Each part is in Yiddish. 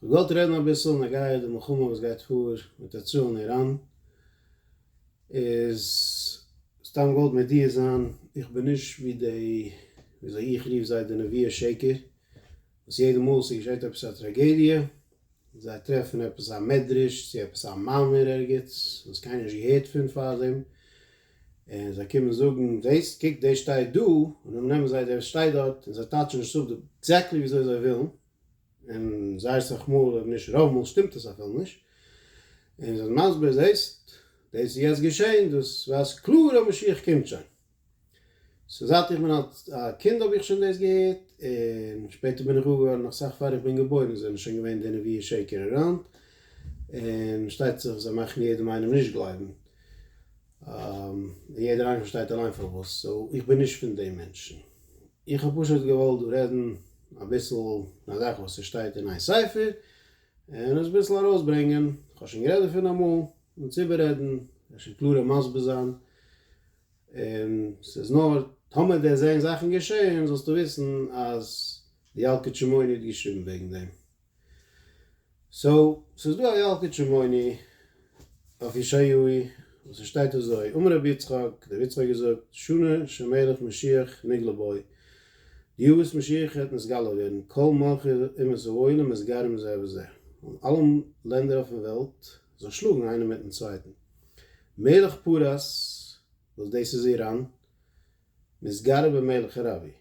כ'וואלט געוואלט רעדן אביסל נגעיע די מלחמה וואס גייט פאר מיט יצרן און איראן, איז סתם געוואלט מודיע זיין איך בין נישט ווי די ווי אזוי איך רוף זיי די נביא השקר וואס יעדע מאל ס'איז געשעט עפעס א טראגעדיע זיי טרעפן עפעס א מדרש צו עפעס א מאמר ערגעץ וואס קיינער נישט געהערט פון פארדעם און זיי קומען זאגן וועסט קוק דער שטייט דא, און דעם נעמען זיי דער שטייט דארט, און זיי טייטשן נישט אפ די עקזעקטלי וויאזוי זיי ווילן, און זייער אסאך מאל אויב נישט רוב מאל שטימט עס אפילו נישט, און זיי זענען מסביר זעסט דאס איז יעצט געשען, דאס ווייזט קלאר אז משיח קומט שוין. סאו זייט איך בין א קינד האב איך שוין דאס געהערט, און שפעטער בין איך גאר געווארן נאך אסאך פאר איך בין געבוירן זענען שוין געווען די נביאי שקר אראונד, און שטייט זיך זיי מאכן יעדעם איינעם נישט גלייבן. יעדער איינער פארשטייט אליין פארוואס, סאו איך בין נישט פון די מענטשן, איך האב פשוט געוואלט דא רעדן אביסל פון א זאך וואס עס שטייט אין איין ספר, און עס אביסל ארויסברענגען, איך האב שוין גערעדט דערפון אמאל, אונז איבעררעדן, אפשר קלארער מסביר זיין, און ס'איז נאר טאמער וועסט זען זאכן געשען זאלסטו וויסן אז די ילקוט שמעוני האט געשריבן וועגן דעם. סאו, ס'איז דא א ילקוט שמעוני אויף ישעיהו וואס עס שטייט אזוי, אמר רבי יצחק, דער רבי יצחק האט געזאגט, שנה שמלך משיח נגלה בו, די יאר וואס משיח וועט נתגלה ווערן, כל מלכי אומות העולם מסגרים זה בזה, און אלע לענדער אויפן וועלט זאל שלאגן איינער מיטן צווייטן, מלך פרס, וואס דאס איז איראן, מתגרה במלך אראביע,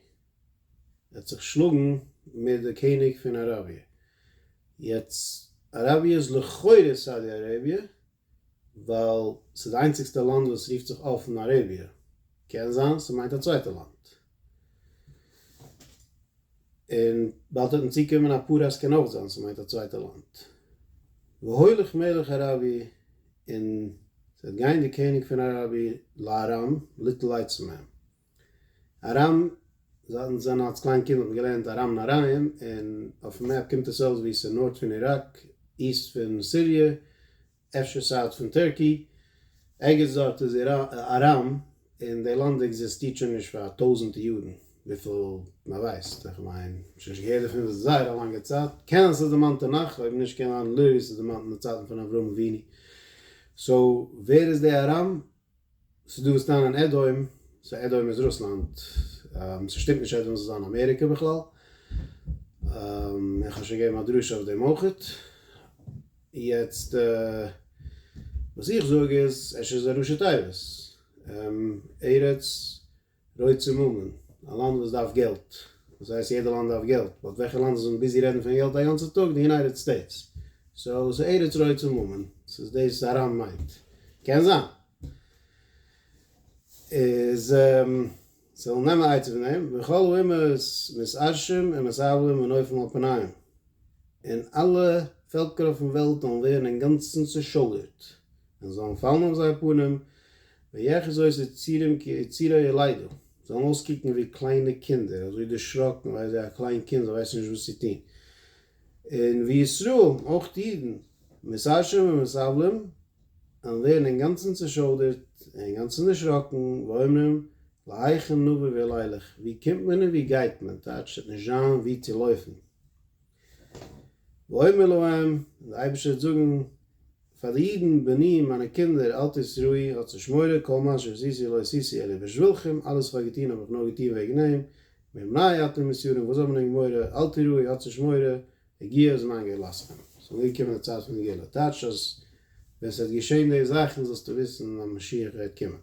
ער האט זיך געשלאגן מיט די קעניג פון אראביע, יעצט אראביע איז לכאורה סאודי אראביע, ווייל ס'איז די איינציגסטע לאנד וואס רופט זיך אפן אראביע, קען זיין ס'מיינט א צווייטע לאנד, און באלד וועט מען צוקומען א פרס קען אויך זיין ס'מיינט א צווייטע לאנד, והולך מלך אראביע און ס'וועט גיין די קעניג פון אראביע לארם ליטל לייטס פון אים. ארם, זייט אונז זענען אלס קליין קינד האט מען געלערנט ארם נהריים, און אויפן מעפ קומט עס אויס ווי עס איז נארט פון איראק, איסט פון סיריע, אפשר סאוט פון טערקי, ערגעץ דארט איז ארם, און די לאנד עקזיסטירט שוין נישט פאר טויזענטע יארן, וויפיל מען ווייסט, איך מיין, שוין נישט געהערט דערפון פאר זייער א לאנגע צייט, קען זיין ס'איז דערמאנט תנך, אויב נישט קען זיין לוי ס'איז דערמאנט אין די צייטן פון אברהם אבינו, סאו ווער איז די ארם? ס'איז דא וואס טענה'ן עדהוים, סאו עדהוים איז רוסלאנד, ס'שטימט נישט עדהוים זאל זיין אמעריקע בכלל, און כ'האב שוין געגעבן א דרשה אויף דעם אויכעט, יעצט וואס איך זאג איז, עס איז א ראשי תיבות, ארץ. רויט צו מאמען, א לאנד וואס דארף געלט, דאס הייסט יעדע לאנד דארף געלט, באט וועלכע לאנד איז אונז ביזי רעדן פון געלט א גאנצע טאג, די יונייטעד סטעיטס, סאו ס'איז ארץ רויט צו מאמען, ס'איז דאס אראן מיינט, קען זיין. איז זאלן נעמען עצה פון דעם, וכל האומות מסרשים ומסרבלים ונופלים על פניהם, און אלע פעלקער אויפן וועלט זאלן ווערן אינגאנצן צושויערט. און זאָלן פֿאַלן אױף זײער פּנים, ויחזו את יצריהם כיצרי ילדה, זאָלן אױסקוקן װי קלײנע קינדער, אַזױ דערשראָקן, װײ אַזױ אַ קלײן קינד, זײ װײסן נישט װאָס צו טאָן. און װי ישׂראל, אױך די ייִדן, מסרשעים ומסבלים, װעלן װערן אינגאַנצן צעשױדערט און אינגאַנצן דערשראָקן, ואומרים, להיכן נבא ואל אילך, װוּ קומט מען און װוּ גײט מען, טײַטש, ס'װעט נישט זײַן װוּ צו לױפֿן. ויאמר להם, און דער אייבערשטער וועט זאגן פאר די אידן, בני, מיינע קינדער, אל תסרו'י, האטס נישט מורא, כל מה שעשיתי לא עשיתי אלא בשבילכם, אלעס וואס איך האב געטון האב איך נאר געטון וועגן אים, מפני אתם מסורים, וואס האט מען ענק מורא, אל תיראי, האטס נישט מורא, הגיע זמן גאולתכם, עס איז אנגעקומען די צייט פון די גאולה, טייטש אז ווען עס וועט געשען די זאכן זאלסטו וויסן אז משיח וועט קומען.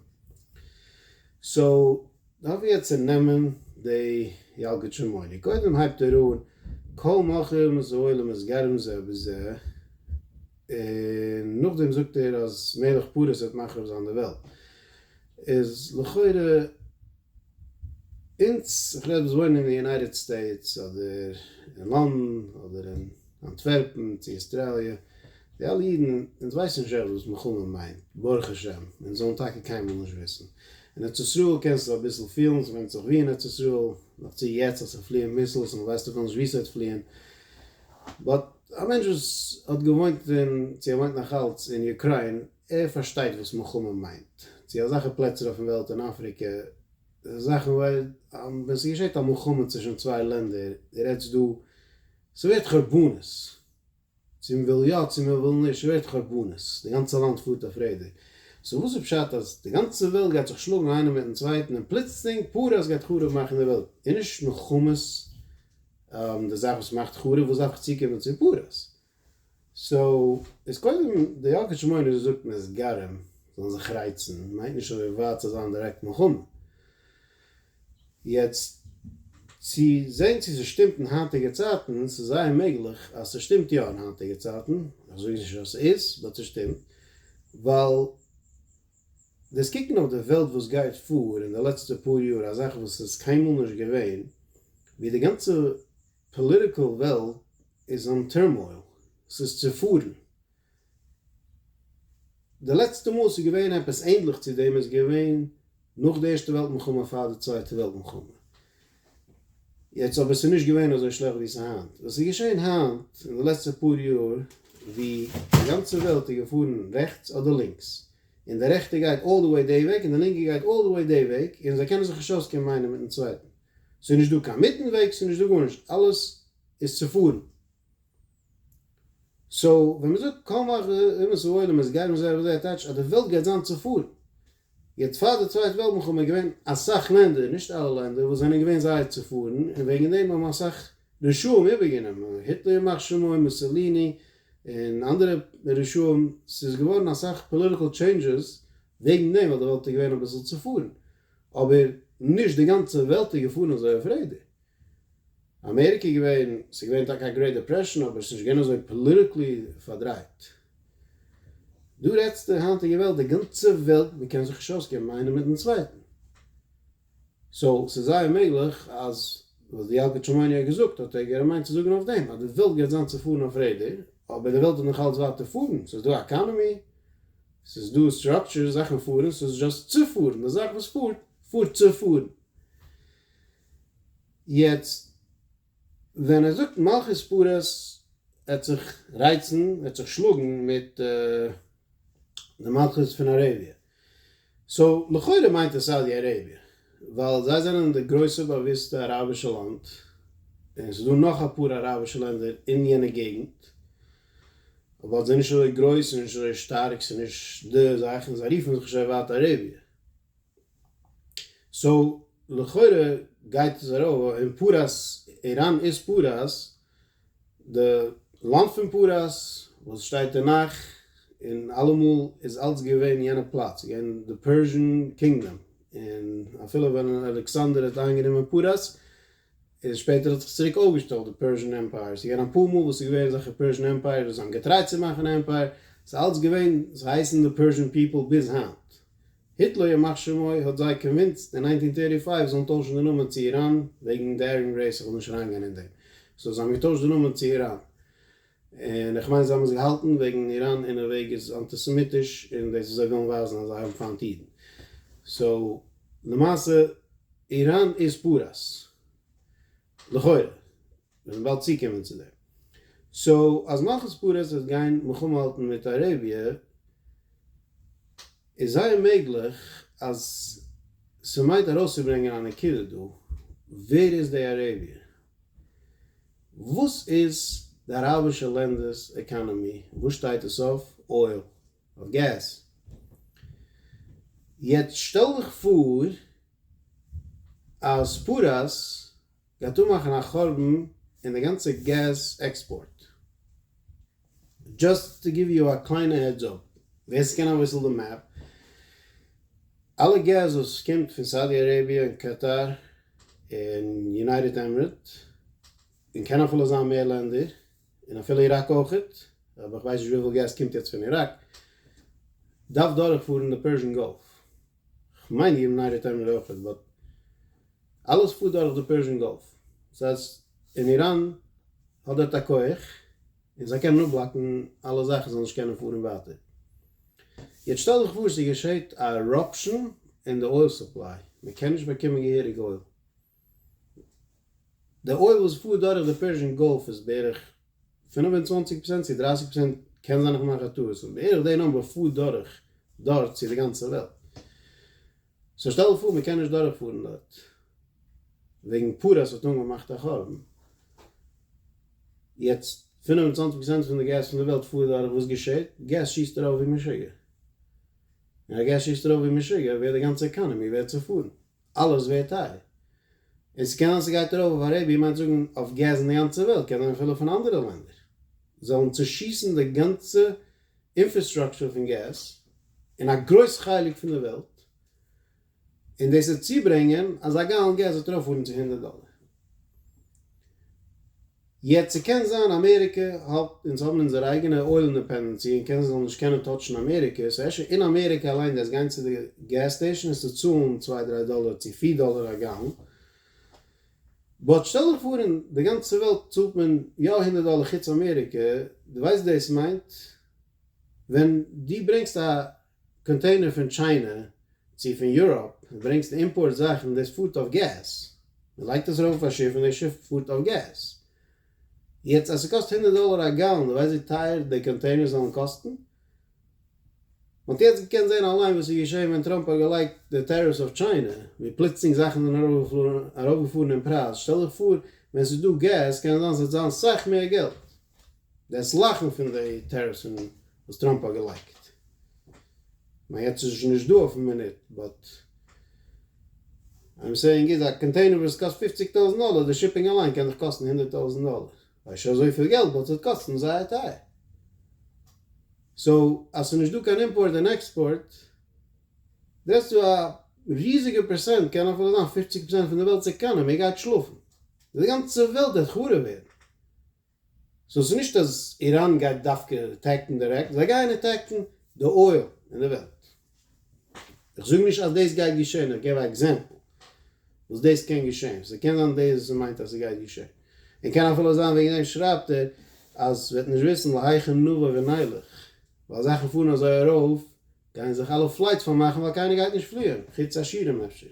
סאו. דארף מען יעצט צונעמען די ילקוט שמעוני, קודם הייבט ער אן כל מכיר מות העולם איז גרם זה בזה, און נאכדעם זאגט ער אז מלך פרס וועט מחריב זיין די וועלט, איז לכאורה אונז, איך רעד וואס וואוינען אין ארץ סטעיטס אדער אין לאנדן אדער אין. אנטווערפן צו אוסטראליע, די אלע אידן, אונז ווייסן נישט אויך וואס מלחמה מיינט, ברוך השם, אונז זאלן טאקע קיינמאל נישט וויסן. אין ארץ ישראל קענסטו אביסל פילן, ס'ווענדט זיך ווי אין ארץ ישראל, נאך צו יעצט אז ס'פליען מיסלס און מ'ווייסט אפילו נישט וואו ס'וועט פליען, באט א מענטש וואס האט געוואוינט און צו ער וואוינט נאך אלץ אין אוקריין, ער פארשטייט וואס מלחמה מיינט, צו אזעלכע פלעצער אויפן וועלט אין אפריקע, זאכן ווען ס'געשעט א מלחמה צווישן צוויי לענדער, דו רעדסט דא ס'ווערט חורבנות, צו מ'וויל יא צו מ'וויל נישט, ס'ווערט חורבנות, די גאנצע לאנד פארט אויף רעדער, סאו וואס איז פשט אז די גאנצע וועלט גייט זיך שלאגן איינער מיטן צווייטן און פלוצלינג פרס גייט חרוב מאכן די וועלט? איז נישט מלחמות די זאך וואס מאכט חרוב? וואס דארף איך צוקומען צו פרס? סאו איז קודם די ילקוט שמעוני וואס זאגט מ'איז גרים זאלן זיך רייצן מיינט נישט אזוי ווייט ס'זאל זיין דירעקט מלחמה. יעצט צו זען צו ס'שטימט אין היינטיגע צייטן, ס'איז זייער מעגליך אז ס'שטימט יא אין היינטיגע צייטן, איך זאג נישט אז ס'איז, באט ס'שטימט, ווייל דאס קוקן אויף די וועלט וואס גייט פאר אין די לעצטע פאר יאר, א זאך וואס איז קיינמאל נישט געווען, ווי די גאנצע פאליטיקעל וועלט איז אן טורמאויל, ס'איז צופארן, די לעצטע מאל ס'איז געווען עפעס ענדליך צו דעם איז געווען נאך די ערשטע וועלט מלחמה פאר די צווייטע וועלט מלחמה. יעצט אבער ס'איז נישט געווען אזוי שלעכט ווי ס'איז היינט. וואס איז געשען היינט אין די לעצטע פאר יאר ווי די גאנצע וועלט איז געפארן רעכטס אדער לינקס, און די רעכטע גייט אלל די וועי דעי וועג און די לינקע גייט אלל די וועי דעי וועג און זיי קענען זיך נישט אויסקומען איינער מיטן צווייטן. ס'איז נישט דא קיין מיטן וועג, ס'איז נישט דא גארנישט, אלעס איז צופארן. סאו ווען מען זאגט כל מה אומות העולם איז גייט מען זיי אויף אזוי טייטש אז די וועלט גייט זיין צופארן. יעצט פאר די צווייטע וועלט מלחמה איז געווען אסאך לענדער, נישט אלע לענדער, וואס זענען געווען זייער צופארן, און וועגן דעם האבן אסאך רשעים איבערגענומען, היטלער ימח שמו, מוסעליני, און אנדערע רשעים, ס'איז געווארן אסאך פאליטיקעל טשעינדזשעס וועגן דעם ווייל די וועלט איז געווען אביסל צופארן, אבער נישט די גאנצע וועלט איז געפארן אזוי אויף רעדער. אמעריקע איז געווען, ס'איז געווען טאקע א גרעיט דעפרעשאן אבער ס'איז נישט געווען אזוי פאליטיקלי פארדרייט. דא רעדסטו היינטיגע וועלט, די גאנצע וועלט, מ'קען זיך נישט אויסקומען איינער מיטן צווייטן. סאו ס'איז זייער מעגליך אז וואס די ילקוט שמעוני האט געזאגט האט ער געמיינט צו זאגן אויף דעם, אז די וועלט גייט זיין צופארן אויף רעדער, אבער די וועלט וועט נאך אלץ ווייטער פארן, ס'איז דא א עקאנעמי, ס'איז דא סטראקטשער, זאכן פארן, ס'איז דזשאסט צו פארן, די זאך וואס פארט, פארט צו פארן. יעצט ווען ער זאגט מלכות פרס וועט זיך רייצן, וועט זיך שלאגן מיט די מלכות פון אראביע, סאו לכאורה מיינט ער סאודי אראביע, ווייל זיי זענען די גרויסע באוויסטע אראבישע לאנד, און ס'איז דא נאך אפאר אראבישע לענדער אין יענע געגנט, אבער זיי נישט אזוי גרויס און נישט אזוי שטארק, ס'איז נישט די זאך, און זיי רופן זיך נישט אויף ווייט אראביע, סאו לכאורה גייט עס ארויף אין פרס, איראן איז פרס, די לאנד פון פרס וואס שטייט אין נך, און אלעמאל איז אלץ געווען יענע פלאץ איז געווען די פערזשען קינגדאם, און אפילו ווען אלעקסאנדער האט איינגענומען פרס, איז שפעטער האט זיך צוריק אויפגעשטעלט די פערזשען עמפייער, ס'איז געווען אפאר מאל וואס ס'איז געווען אזעלכע פערזשען עמפייערס וואס זיי האבן געטרייט צו מאכן עמפייער, ס'איז אלץ געווען, זיי הייסן די פערזשען פיפל ביז היינט, היטלער ימח שמו האט זיי קאנווינסט אין ניינטין טערטי פייוו זאלן טוישן די נאמען צו איראן וועגן די ארים רעיס איך וויל נישט אריינגיין אין דעם סאו זיי האבן געטוישט די נאמען צו איראן און איך מיין זיי האבן עס געהאלטן וועגן איראן אין א וועג איז אנטיסעמיטיש און דאס איז זיי ווילן ווייזן אז זיי האבן פיינט אידן סאו למעשה איראן איז פאראויס. לכאורה. מיר וועלן באלד צוקומען צו דעם. סאו אז מלכות פרס וועט גיין מלחמה האלטן מיט אראביע, איז זייער מעגליך אז ס'מיינט ארויסצוברענגען א נקודה דא, ווער איז די אראביע? וואס איז די אראבישע לענדער'ס עקאנאמי? וואס שטייט עס אויף? אויל? אויף געז? יעצט שטעל דיך פאר אז פרס גייט אנמאכן א חורבן אין די גאנצע געז עקספארט. דזשאסט טו גיוו יו א קליינע העדס אפ, ווער ס'קען אביסל די מעפ, אלע געז וואס קומט פון סאודי אראביע און קאטאר און יונייטעד עמערעט און קען אפילו זיין מער לענדער און אפילו איראק אויך, אבער איך ווייס נישט וויפיל געז קומט יעצט פון איראק, דארף דורכפארן די פערזשן גאלף. כ'מיין איר מנהל האט אמאל אויכעט באט אלעס פארט דורך די פערשן גאלף סאיז און איראן האט דארט א כח און זיי קענען אפבלאקן אלע זאכן זאל נישט קענען פארן ווייטער יעצט שטעל דיך פאר ס'געשעהט א עראפשן און די אויל סופליי מ'קען נישט באקומען געהעריג אויל די אויל וואס פארט דורך די פערשן גאלף איז בערך פֿינף און צוואַנציק פראצענט צו דרײַסיק פראצענט קען זיין איך מאך א טעות און בערך די נומבער פארט דורך דארט צו די גאנצע וועלט סאו שטעל פאר מען קען נישט דורך פארן דארט וועגן פאר עס האט אנגעמאכט א חורבן יעצט פֿינף און צוואַנציק פראצענט פון די געז פון די וועלט פארט דורך וואס געשעט געז שיסט ארויף ווי משוגע און אז געז שיסט ארויף ווי משוגע ווערט די גאנצע עקאנעמי ווערט צופארן אלעס ווערט טייער. און ס'קען זיין ס'גייט ארויף אויף א רבי מיינט זאגן אויף געז אין די גאנצע וועלט, קען זיין אפילו פון אנדערע לענדער זאלן צושיסן די גאנצע אינפערסטראקטור פון געז אין א גרויס חלק פון די וועלט, און דאס וועט צוברענגען אז א גאלאן געז וועט ארויפפארן צו הונדערט דאלער. יעצט ס'קען זיין אמעריקע האלט אונז האבן אונזער אייגענע אויל אינדעפענדענסי און קען זיי זאלן נישט קענען טאטשן אמעריקע סאו אפשר אין אמעריקע אליין דארפסט גיין צו די געז סטעישן און ס'צאלן צוויי דריי דאלער צו פיר דאלער א גאלן באט שטעל דיך פאר אין די גאנצע וועלט צאלט מען יא הונדערט דאלער חוץ אמעריקע דו ווייסט דאס מיינט ווען דו ברענגסט א קאנטעינער פון טשיינע צו פון יוראפ ברענגסט אימפארט זאכן דאס פארט אויף געז מען לייגט עס ארויף אויף א שיף און די שיף פארט אויף געז יעצט אז ס'קאסט הונדערט דאלער א גאלאן די ווייסט ווי טייער די קאנטעינערס זאלן קאסטן? מען האט יעצט געקענט זען אליין וואס איז געשען ווען טראמפ האט געלייגט די טעריפס אויף טשיינע ווי פלוצלינג זאכן זענען ארויפגעפארן אין פרייז שטעל דיך פאר ווען ס'איז דא געז קען זיין ס'וועט זיין סאך מער געלט. דאס לאכן פון די טעריפס פון וואס טראמפ האט געלייקט. כ'מיין יעצט איז עס שוין נישט דא אויפן מינוט באט איים סעיאינג איז א קאנטעינער וואס קאסט פופציג טויזנט דאלער די שיפינג אליין קען דיך קאסטן הונדערט טויזנט דאלער ווייסט שוין אזויפיל געלט באט ס'וועט קאסטן זייער טייער סאו אז ס'איז נישט דא קיין אימפארט און עקספארט זעסטו א ריזיגע פערסענט קען אפילו זיין פופציג פערסענט פון די וועלטס עקאנעמי גייט שלאפן די גאנצע וועלט וועט חרוב ווערן. סאו ס'איז נישט אז איראן גייט דווקא עטעקן דירעקט, זיי גייען עטעקן די אויל אין די וועלט. איך זאג נישט אז דאס גייט געשען, איך געב א עקזעמפל וואס דאס קען געשען, ס'קען זיין דאס מיינט אז ס'גייט געשען, און קען אפילו זיין וועגן דעם שרייבט ער אז וועט נישט וויסן להיכן נבא ונלך, ווייל זאכן פארן אזוי ארויף גייען זיך אלע פלייטס פארמאכן ווייל קיינער גייט נישט פליען, חוץ עשירים אפשר,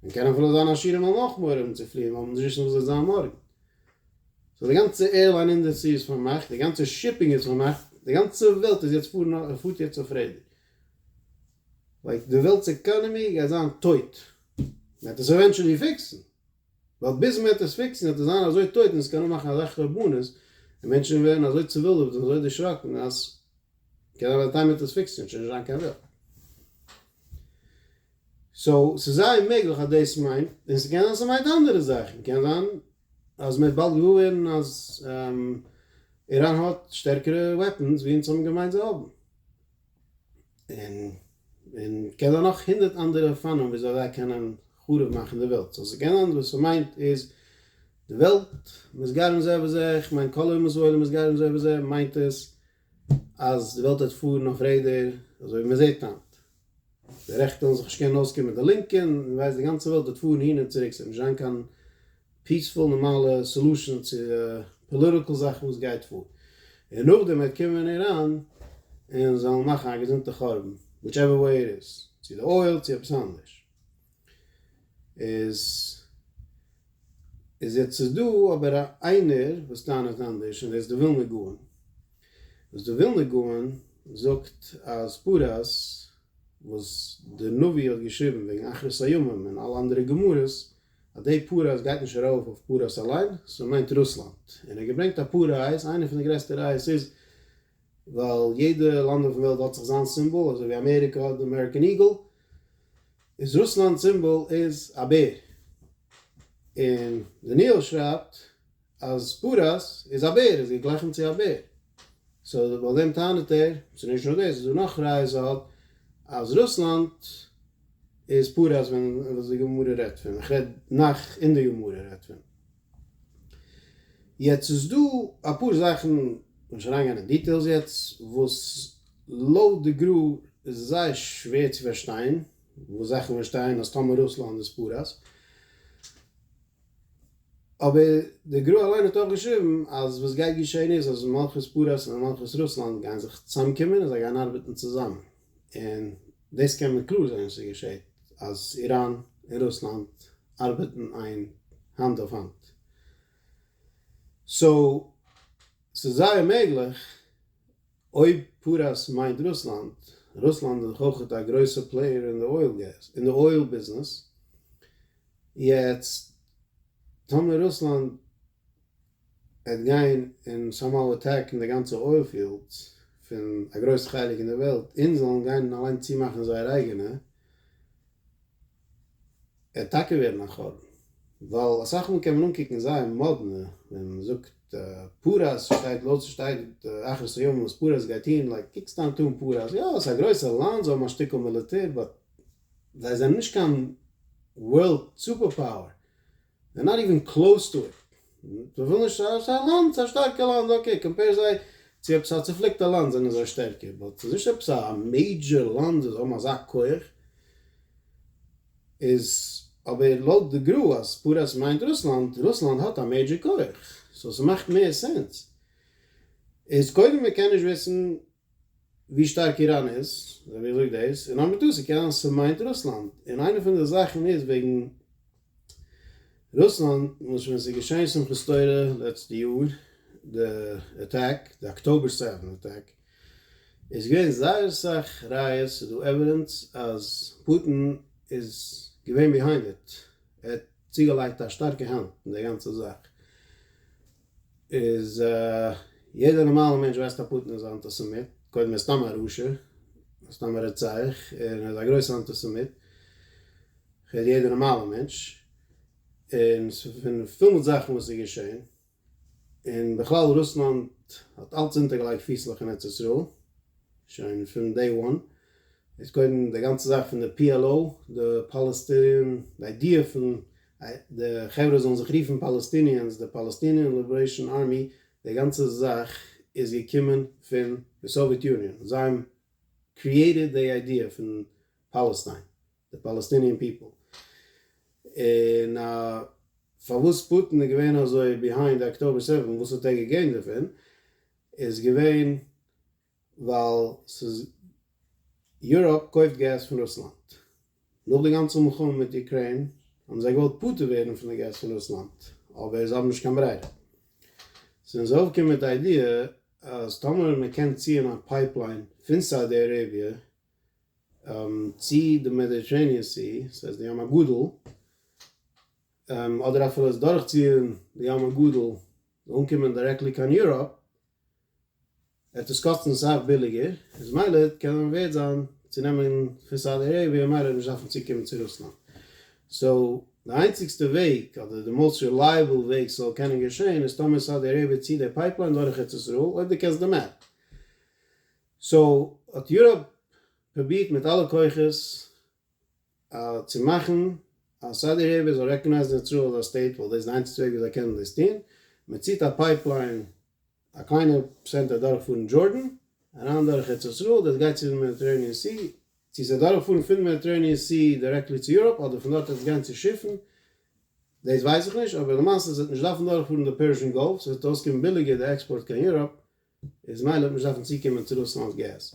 און קען אפילו זיין עשירים האבן אויך מורא אום צו פליען ווייל מ'וועט נישט וויסן וואס וועט זיין מארגן. סאו די גאנצע עירליין אינדערסטרי איז פארמאכט, די גאנצע שיפינג איז פארמאכט, די גאנצע וועלט איז יעצט פארן אויף, פארט יעצט אויף רעדער. לייק די וועלט'ס עקאנעמי גייט זיין טויט. מ'עט עס עווענטשעלי פיקסן. ווייל ביז מ'עט עס פיקסן וועט עס זיין אזוי טויט און עס קען אנמאכן אזא חרבנות, און מענטשן ווערן אזוי צעווילדעוועט און אזוי דערשראקן אז קען אבער די טיימער דאס פיקסען שוין נישט זיין קיין וועלט. סאו ס'איז זייער מעגליך אז דאס מיינט, און ס'קען זיין ס'מיינט אנדערע זאכן, קען זיין אז מ'וועט באלד געוואר ווערן אז איראן האט שטערקערע וועפענס ווי אונז האבן געמיינט זיי האבן. און און קען זיין נאך הונדערט אנדערע אופנים ווי אזוי זיי קענען חרוב מאכן די וועלט. סאו ס'קען זיין וואס ס'מיינט איז די וועלט מסגרים זה בזה, כ'מיין כל אומות העולם מסגרים זה בזה, מיינט עס, אז די וועלט וועט פארן אויף רעדער אזוי ווי מען זעט היינט, די רעכטע וועלן זיך נישט קענען אויסקומען מיט די לינקע, און ווער ווייסט די גאנצע וועלט וועט פארן אהין און צוריק, ס'וועט נישט זיין קיין פיעספול נארמאלע סעלושען צו פאליטיקל זאכן וואס גייט פאר, און נאכדעם וועט קומען איראן און זיי וועלן מאכן א געזונטע חורבן, וויטש עווער וועי איט איז, צו די אויל צו עפעס אנדערש. איז איז יעצט איז דא אבער א איינער וואס טענה'ט אנדערש און דאס איז די ווילנא גאון וואס די ווילנא גאון זאגט אז פרס וואס די נביא האט געשריבן וועגן אחרית הימים און אלע אנדערע גמרות אז דעי פרס גייט נישט ארויף אויף פרס אליין סאו מיינט רוסלאנד און ער האט געברענגט אפאר ראיות איינע פון די גרעסטע ראיות איז ווייל יעדע לאנד אויפן וועלט האט זיך זיין סימבאל אזוי ווי אמעריקא האט די אמעריקען איגעל איז רוסלאנד סימבאל איז א בער. און דניאל שרייבט אז פרס איז א בער, איז געגליכענט צו א בער. סאו לויט דעם טענה'ט ער, ס'איז נישט נאר דאס, איז דא נאך ראיות אלט אז רוסלאנד איז פרס ווען וואס די גמרא רעדט פון, איך רעד נאך אין די גמרא רעדט פון. יעצט איז דא אפאר זאכן, כ'וועל נישט אריינגיין אין דיטעילס יעצט, וואס לויט די גרא איז זייער שווער צו פארשטיין, וואס זאכן ווען שטייען אז טאמער רוסלאנד איז פאראויס, אבער די גרא אליין האט אויך געשריבן אז וואס גייט געשען איז אז מלכות פאראויס און מלכות רוסלאנד גייען זיך צוזאמקומען און זיי גייען ארבעטן צוזאמען. און דאס קען מען קלאר זען ס'איז געשעהט אז איראן און רוסלאנד ארבעטן איין האנט אויף האנט. סאו ס'איז זייער מעגליך אויב פרס מיינט רוסלאנד, רוסלאנד איז דאך אויכעט א גרויסע פלעיער אין די אויל געז אין די אויל ביזנעס, יעצט טאמער רוסלאנד וועט גיין און סאמהאו אטעקן די גאנצע אויל פיעלדס פון א גרויס חלק אין די וועלט, אונז זאלן גיין און אליין צומאכן זייער אייגענע, ער טאקע ווערן א חורבן, ווייל אסאך מאל קען מען אנקוקן זייער מאדנע ווען מען זאגט פרס שטייט לויט ס'שטייט אחרית הימים וואס פרס גייט טון, לייק קוק סתם טון פרס, יא ס'איז א גרויסע לאנד זיי האבן א שטיקל מיליטער באט זיי זענען נישט קיין וועלט סופער פאוער. זיי נאט איווען קלאוס טו איט, זיי ווילן נישט א סאיז א לאנד סאיז א שטארקע לאנד אקעי קאמפעיר זיי צו עפעס א צופליקטע לאנד זענען זיי שטערקער באט סאיז נישט עפעס א מעידזשער לאנד זיי האבן אזא כח איז אבער לויט די גרא אז פרס מיינט רוסלאנד רוסלאנד האט א מעידזשער כח סאו סמאכט מער סענס איז קודם מקען נישט וויסן ווי שטארק איראן איז, אזוי ווי ער זאגט דאס, און נאר מיט דאס ס'קען זיין ס'מיינט רוסלאנד, און איינע פון די זאכן איז וועגן רוסלאנד, למשל ווען ס'איז געשען שמחת תורה לעצטע יאר, די אטעק, די אקטאבער סעווען אטעק, איז געווען זייער אסאך ראיות, ס'איז דא עווידענס אז פוטין איז געווען ביהיינד איט, ער האט צוגעלייגט א שטארקע האנט אין די גאנצע זאך. איז יעדער נארמאלער מענטש ווייסט א פוטין איז א אנטיסעמיט, קודם ער איז סתם א רשע, ער איז סתם א רוצח, און ער איז א גרויסע אנטיסעמיט, כ'רעד יעדער נארמאלער מענטש, און ס'פון פיל מיט זאכן וואס איז געשען, און בכלל רוסלאנד האט אלץ אונטערגעלייגט פיסלעך אין ארץ ישראל, שוין פון דעי וואן, איז קודם די גאנצע זאך פון די PLO, די פאלעסטינען, די איידיע פון די חברה זאלן זיך רופן פאלעסטיניענס, די פאלעסטיניען ליבערעישאן ארמי, די גאנצע זאך איז געקומען פון די סאוויעט יוניאן, זיי האבן קריעטעד די איידיע פון פאלעסטיין, די פאלעסטיניען פיפל, און פארוואס פוטין איז געווען אזוי ביהיינד אקטאבער סעווען, וואס האט ער געגעינט דערפון, איז געווען. ווייל ס'איז יוראפ קויפט געז פון רוסלאנד. נאך די גאנצע מלחמה מיט אוקריין האבן זיי געוואלט פטור ווערן פון די געז פון רוסלאנד, אבער זיי האבן נישט קיין ברירה. זענען זיי אויפגעקומען מיט די איידיע אז טאמער מען קען ציען א פייפליין פון סאודי אראביע צו די מעדיטערעיניען סי, סאיז די ים הגדול, אדער אפילו עס דורכציען די ים הגדול זאל אנקומען דירעקטלי קיין יוראפ, וועט דאס קאסטן סאך ביליגער, איז מילא קען מען ווערד זיין צו נעמען פון סאודי אראביע און מילא נישט דארפן צוקומען צו רוסלאנד. סאו די איינציגסטע וועג אדער די מאוסט רילייעבל וועג ס'זאל קענען געשען איז טאמער סאודי אראביע ציט די פייפליין דורך ארץ ישראל, אויב דו קענסט די מעפ. סאו האט יוראפ פרובירט מיט אלע כוחות צו מאכן אז סאודי אראביע זאל רעקאנייזן ישראל אלס א סטעיט ווייל דאס איז די איינציגסטע וועג ווי זיי קענען דאס טון, מען ציט א פייפליין א קליינע צענטער דורכפארן דזשארדען אריין דורך ארץ ישראל דאס גייט צו די מעדיטערעיניען סי, צו ס'וועט דורכפארן פון די מעדיטערעיניען סי דירעקטלי צו יוראפ אדער פון דארט וועט עס גיין צו שיפן דאס ווייס איך נישט אבער למעשה ס'וועט נישט דארפן דורכפארן די פערשן גאלף ס'וועט אויסקומען ביליגער די עקספארט קיין יוראפ איז מילא וועט מען נישט דארפן צוקומען צו רוסלאנד'ס געז.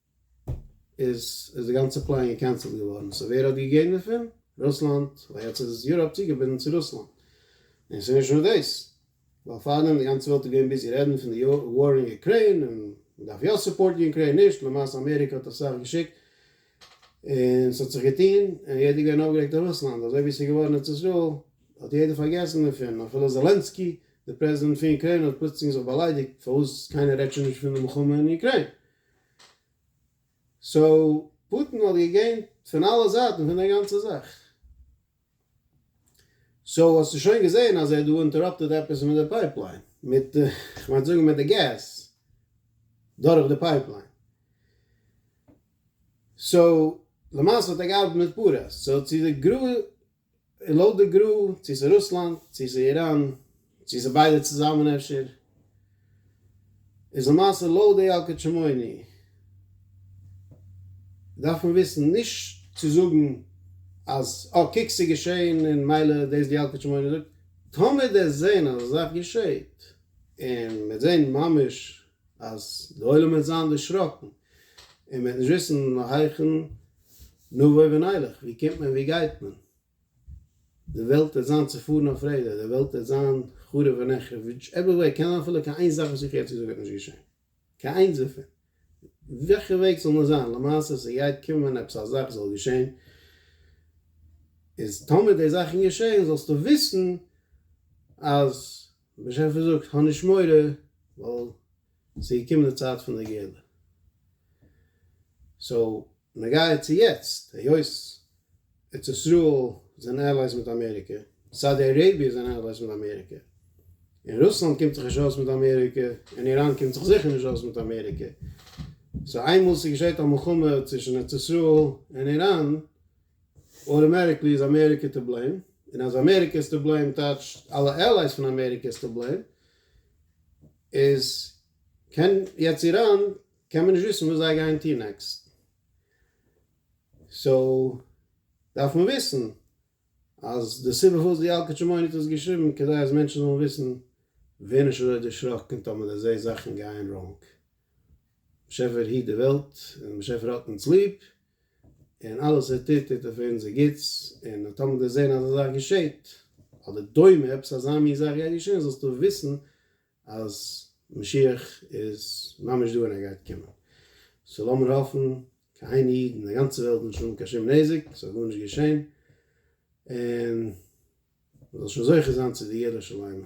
איז איז די גאנצע פלאן געקענסלט געווארן, סאו ווער האט געגעבן דערפון? רוסלאנד, ווייל יעצט איז יוראפ צוגעבינדן צו רוסלאנד. און ס'איז נישט נאר דאס, ווייל פארדעם די גאנצע וועלט איז געווען ביזי רעדן פון די וואר אין אוקריין, און מ'דארף יא סופארטן אוקריין נישט, למעשה אמעריקע האט אסאך געשיקט און ס'האט זיך געטון, און יעדער איז געווען אויפגערעגט אויף רוסלאנד, אזוי ווי ס'איז געווארן ארץ ישראל האט יעדער פארגעסן דערפון, אפילו זאלענסקי די פרעזידענט פון אוקריין האט פלוצלינג זיך באליידיגט פארוואס קיינער רעדט שוין נישט פון די מלחמה אין אוקריין. סאו פוטין האט געגעינט פון אלע זייטן פון די גאנצע זאך. סאו האסטו שוין געזעהן אז ער האט דא אינטעראפטעד עפעס מיט די פייפליין, מיט די, כ'מיין צו זאגן מיט די געז דורך די פייפליין. סאו למעשה האט ער געארבעט מיט פאראויס. סאו צו די גרא. און לויט די גרא, צו איז רוסלאנד, צו איז איראן, צו איז ביידע צוזאמען אפשר, איז למעשה לויט די ילקוט שמעוני, דארף מען וויסן נישט צו זאגן אז אה קוק ס'איז געשעהן און מילא דאס די ילקוט שמעוני זאגט, טאמער דערזעהן אז אזאך געשעהט און מ'העט זעהן ממש אז די עולם וועט זיין דערשראקן און מ'וועט נישט וויסן היכן נבוא ונלך, וואו קומט מען וואו גייט מען, די וועלט וועט זיין צעפארן אויף רעדער, די וועלט וועט זיין חרוב ונחרב, וויטש עווער וועי, קען זיין אפילו קיין איין זאך וואס איך יעצט געזאגט וועט נישט געשען, קיין איינס דערפון, וועלכע וועג ס'זאל נאר זיין, למעשה ס'גייט קומען עפעס א זאך זאל געשען, איז טאמער די זאכן געשען זאלסטו וויסן אז. און באשעפער זאגט, האב נישט מורא, ווייל עס איז געקומען די צייט פון די גאולה. סאו, נוגע צו יעצט, היות ארץ ישראל זענען עלייס מיט אמעריקע, סאודי אראביע זענען עלייס מיט אמעריקע, און רוסלאנד קומט זיך נישט אויס מיט אמעריקע, און איראן קומט זיך זיכער נישט אויס מיט אמעריקע, סאו איינמאל ס'געשעט א מלחמה צווישן ארץ ישראל און איראן, אוטאמעטיקלי איז אמעריקע טו בלעים, און אז אמעריקע איז טו בלעים טייטש אלע עלייס פון אמעריקע איז טו בלעים, איז קען יעצט איראן קען מען נישט וויסן וואס זיי גייען טון נעקסט, סאו דארף מען וויסן אז די סיבה פארוואס די ילקוט שמעוני האט עס געשריבן כדי אז מענטשן זאלן וויסן ווער נישט אזוי דערשראקן טאמער די זעהסט זאכן גייען ראנג, באשעפער היט די וועלט און באשעפער האט אונז ליב, און אלעס ער טוט טוט ער פאר אונזער גוטס, און אז טאמער דו זען אזא זאך געשעט, אדער דומה עפעס אזא מין זאך גייט געשען, זאלסטו וויסן אז משיח איז ממש דא און ער גייט קומען. סאו לאמיר האפן, קיין איין איד אין די גאנצע וועלט זאל נישט האבן קיין שום נזק, ס'זאל גארנישט געשען, און מ'זאל שוין זוכה זיין צו די יראה שלמה.